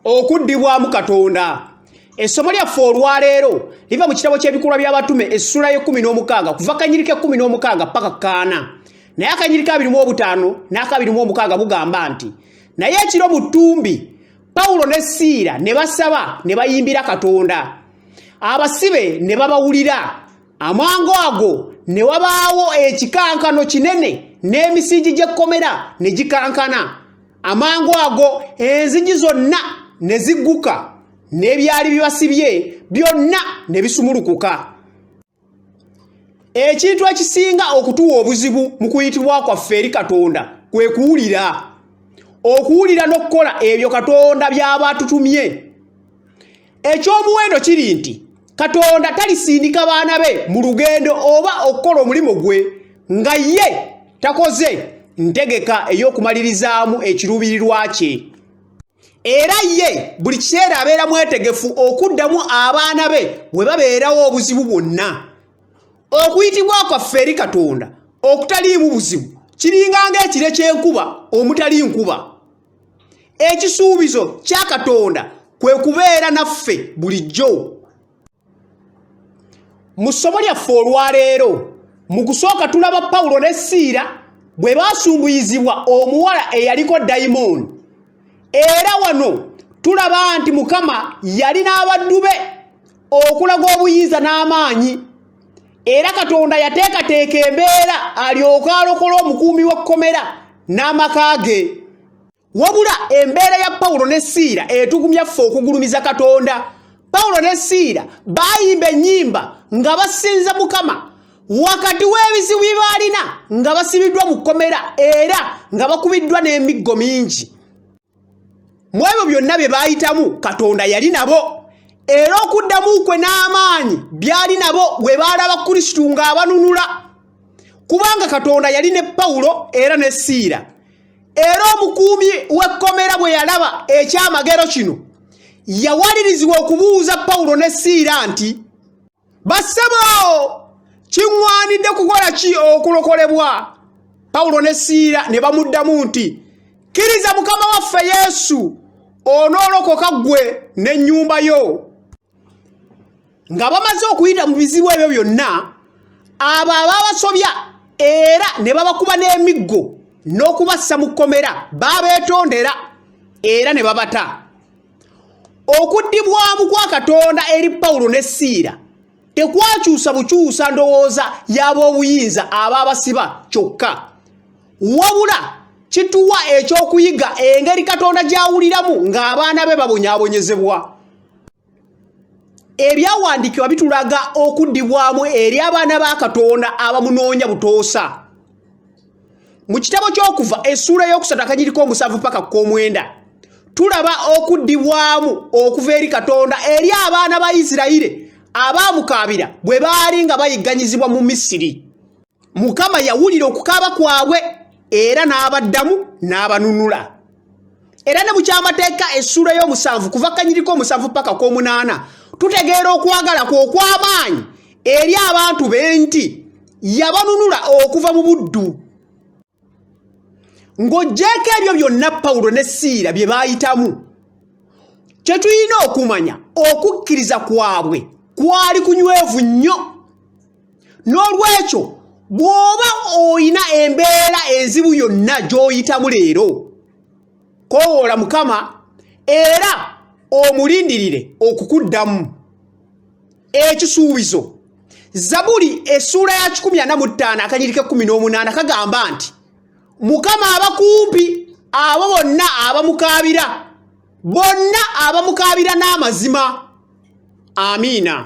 okuddibwamu katonda essomo lyaffe olwaleero liva mu kitabo ky'ebikolwa by'abatume essula y'ekumi n'omukaaga kuva kanyirika ekumi n'omukaaga paka kaana naye akanyirika abiri mu obutaano n'akabiri mu omukaaga bugamba nti naye ekiro mu ttumbi pawulo ne siira ne basaba ne bayimbira katonda abasibe ne babawulira amangu ago ne wabaawo ekikankano kinene n'emisingi gy'ekkomera ne gikankana amangu ago enzigi zonna ne zigguka n'ebyali bibasibye byonna ne bisumulukuka ekintu ekisinga okutuwa obuzibu mu kuyitibwa kwaffe eri katonda kwe kuwulira okuwulira n'okukola ebyo katonda by'aba atutumye Eky'omuwendo kiri nti Katonda talisindika baana be mu lugendo oba okukola omulimu gwe nga ye takoze ntegeka ey'okumalirizaamu ekiruubirirwa kye. Era ye buli kiseera abeera mwetegefu okuddamu abaana be we babeerawo obuzibu bwonna. Okuyitibwa kwaffe eri Katonda okutaliimu buzibu kiringa ng'ekire ky'enkuba omutali nkuba. ekisuubizo kya katonda kwe kubeera naffe bulijjo mu ssomo lyaffe olwaleero mu kusooka tulaba pawulo ne siira bwe baasumbuyizibwa omuwala eyaliko dayimooni era wano tulaba nti mukama yali n'abaddu be okulaga obuyinza n'amaanyi era katonda yateekateeka embeera alyoke alokole omukuumi w'ekkomera n'amaka ge wabula embeera ya pawulo ne siira etugumya ffe okugulumiza katonda pawulo ne siira baayimba ennyimba nga basinza mukama wakati w'ebizibu bye baalina nga basibiddwa mu kkomera era nga bakubiddwa n'emiggo mingi mu ebyo byonna bye baayitamu katonda yali nabo era okuddamu kwe n'amaanyi byali nabo bwe baalaba kristo ng'abanunula kubanga katonda yali ne pawulo era ne siira era omukuumi w'ekkomera bwe yalaba ekyamagero kino yawalirizibwa okubuuza pawulo ne siira nti bassebo kiŋŋwanidde kukola ki okulokolebwa pawulo ne siira ne bamuddamu nti kkiriza mukama waffe yesu onoolokoka ggwe n'ennyumba yo nga bamaze okuyita mu bizibu ebyo byonna abo ababasobya era ne babakuba n'emiggo n'okubassa mu kkomera baabeetondera era ne babata okuddibwamu kwa katonda eri pawulo ne siira tekwakyusa bukyusa ndowooza y'ab'obuyinza aba abasiba kyokka wabula kituwa ekyokuyiga engeri katonda gy'awuliramu ng'abaana be babonyabonyezebwa ebyawandiikibwa bitulaga okuddibwamu eri abaana ba katonda abamunoonya butoosa mu kitabo ky'okuva essuula y'okusatu akanyiriko omusanvu paka ku komwenda tulaba okuddibwamu okuva eri katonda eri abaana ba isirayire abaamukaabira bwe baali nga bayigganyizibwa mu misiri mukama yawulira okukaaba kwabwe era n'abaddamu n'abanunula era ne mu kyamateeka essuula y'omusanvu kuva kanyiriko omusanvu paka ku omunaana tutegeera okwagala kwe okw'amaanyi eri abantu be nti yabanunula okuva mu buddu ng'ogyeko ebyo byonna pawulo ne siira bye baayitamu kye tulina okumanya okukkiriza kwabwe kwali kunywevu nnyo n'olwekyo bw'oba olina embeera enzibu yonna gy'oyitamu leero kowoola mukama era omulindirire okukuddamu ekisuubizo zabuli essuula ya 15 akanyirika 18 kagamba nti mukama abakumpi abo bonna abamukaabira bonna abamukaabira n'amazima amiina